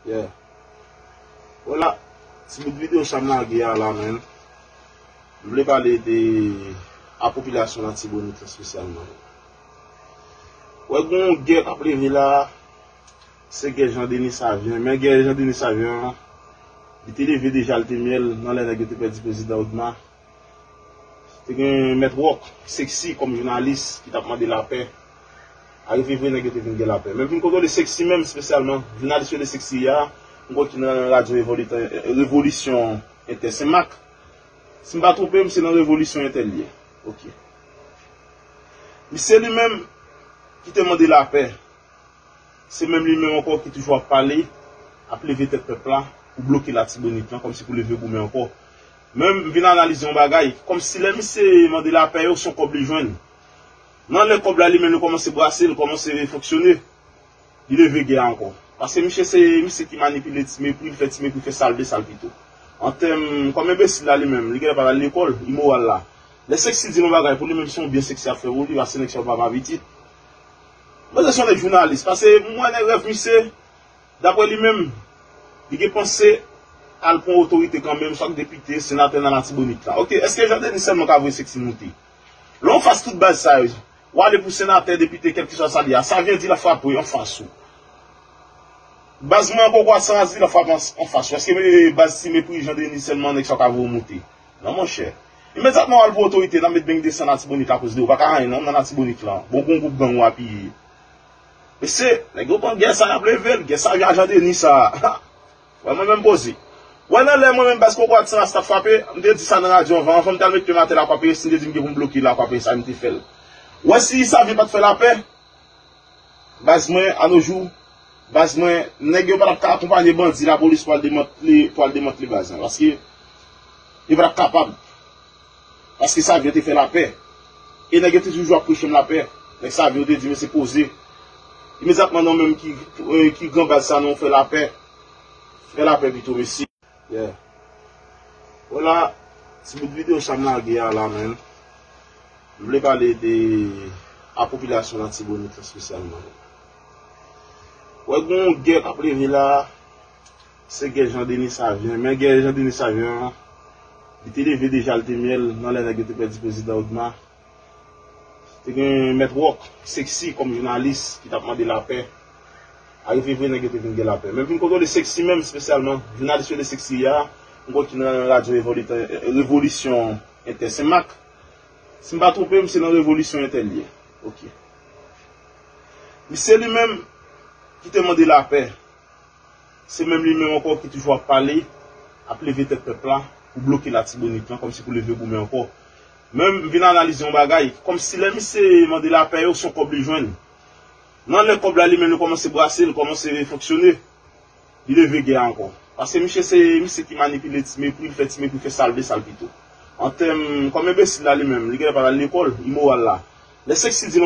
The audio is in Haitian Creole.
Yeah Bon la ti bout video sa m lage a la menm m vle pale de a popilasyon latibonit espesyalman Ou wè gen yon gè k ap leve la a se gè Jean Denis Savien men gè Jean Denis Savien an li te leve deja li te myèl nan lè nèg yo te pèdi prezidan Odma. Te gen mèt rock, sexy kòm jounalis ki tap mande lapè. Arive vre nèg yo te vin gen lapè. Men poun kontwole sexy menm spesyalman, jounalis yo rele sexy a, m kwè ki nan radyo revolisyon entè senmak. Si m pa twonpe m se nan revolisyon entè l ye. Ok. Misye li menm ki te mande lapè, se menm li menm ankò ki toujou ap pale, ap leve tèt pèp la pou bloke latibonit lan kòmsi pou leve goumen ankò. Men m vin analize yon bagay, kòm si lè misye mande lapè yo, son kòb li jwenn. Nan lè kòb la li menm li kòmanse brase, li kòmanse fonksyone, li leve gè a ankò. Paske misye se misye ki manipile ti mepri, li fè ti mepri fè sa l vle, sa l pito. An tèm, kòm enbesil la li menm, li genlè pa t al lekòl, imoral la. Lè Sexy di l yon bagay, pou li menm se yon byen Sexy ap fè pou li, paske nèg sa yo pa pa pitit. Manzè se yon nèg jounalis, pase m wè nan rèv misye. Dapre li menm, li gen panse al pran otorite kanmenm, chak depite, senatè nan Latibonit la. Ok, eske Jean Denis sèlman ka voye seksi moute? Lè w fas tout baz sa yo, w ale pou senatè, depite, kèlkeswa sa li a, sa vle di l ap frape an fas ou. Baz mwen an poko ase raz di l ap frape an fas ou. Eske baz si mepri Jean Denis sèlman nèg sa yo ka voye w moute? Non monchè. Imedyatman w al pou otorite, n ap met beng 200 Latibonit la koz de w pa ka anyen non nan Latibonit lan. Bon gon gwoup gang w apiye. Mesye, nèg yo pran gè sa yap level, gè sa ajan Denis sa. Wè mwen menm poze. Wè nan lè mwen menm baz kokorat san ras tap frape, m te di sa nan radyo anvan, anvan m tal met pye m atè lakwapeye si m te di m gen pou m bloke lakwapeye sa m te fèl. Wè si Yssavie pat fè lapè, baz mwen anojou, baz mwen, nèg yo patap ka akonpanye bandi lapolis pou al demantle, pou al demantle baz mwen. Paske yo patap kapab. Paske sav yo te fè lapè. E nèg yo te toujou ap preche m lapè. Nèg sav yo te di mesye poze. Imedyatman nan menm ki gran baz sa non fè lapè. Fè lapè pito mesye. Yeah. Hola, ti bout video sa m lage a la menm, m vle pale de a popilasyon latibonit la spesyalman. Wè gen yon gè k ap leve la, Se gè Jean Denis Savien. Men gè Jean Denis Savien an, li te leve deja li te myèl nan lè nèg yo te pèdi Prezidan Odma. Te gen Mèt Rock, Sexy kòm jounalis ki t ap mande lapè. Arive vre nèg yo te vin gen lapè. Men vin kontwole Sexy menm spesyalman. Jounalis yo rele Sexy a, m kwè ki nan radyo Revolitè, Revolisyon Entè Senmak. Si m pa twonpe m, se nan Revolisyon Entè l ye. Ok. Misye li menm ki te mande lapè. Se menm li menm ankò ki toujou ap pale, ap leve tèt pèp la pou bloke Latibonit lan kòmsi pou leve goumen ankò. Men m vin analize yon bagay, kòmsi lè misye mande lapè yo son kòb li jwenn. Nan lè kòb la li menm li kòmanse brase, li kòmanse fonksyone, li leve gè a ankò. Paske misye se misye ki manipile ti mepri, li fè ti mepri fè sa l vle, sa l pito. Antèm, kòm enbesil la li menm, li genlè pa t al lekòl, imoral la. Lè Sexy di l yon.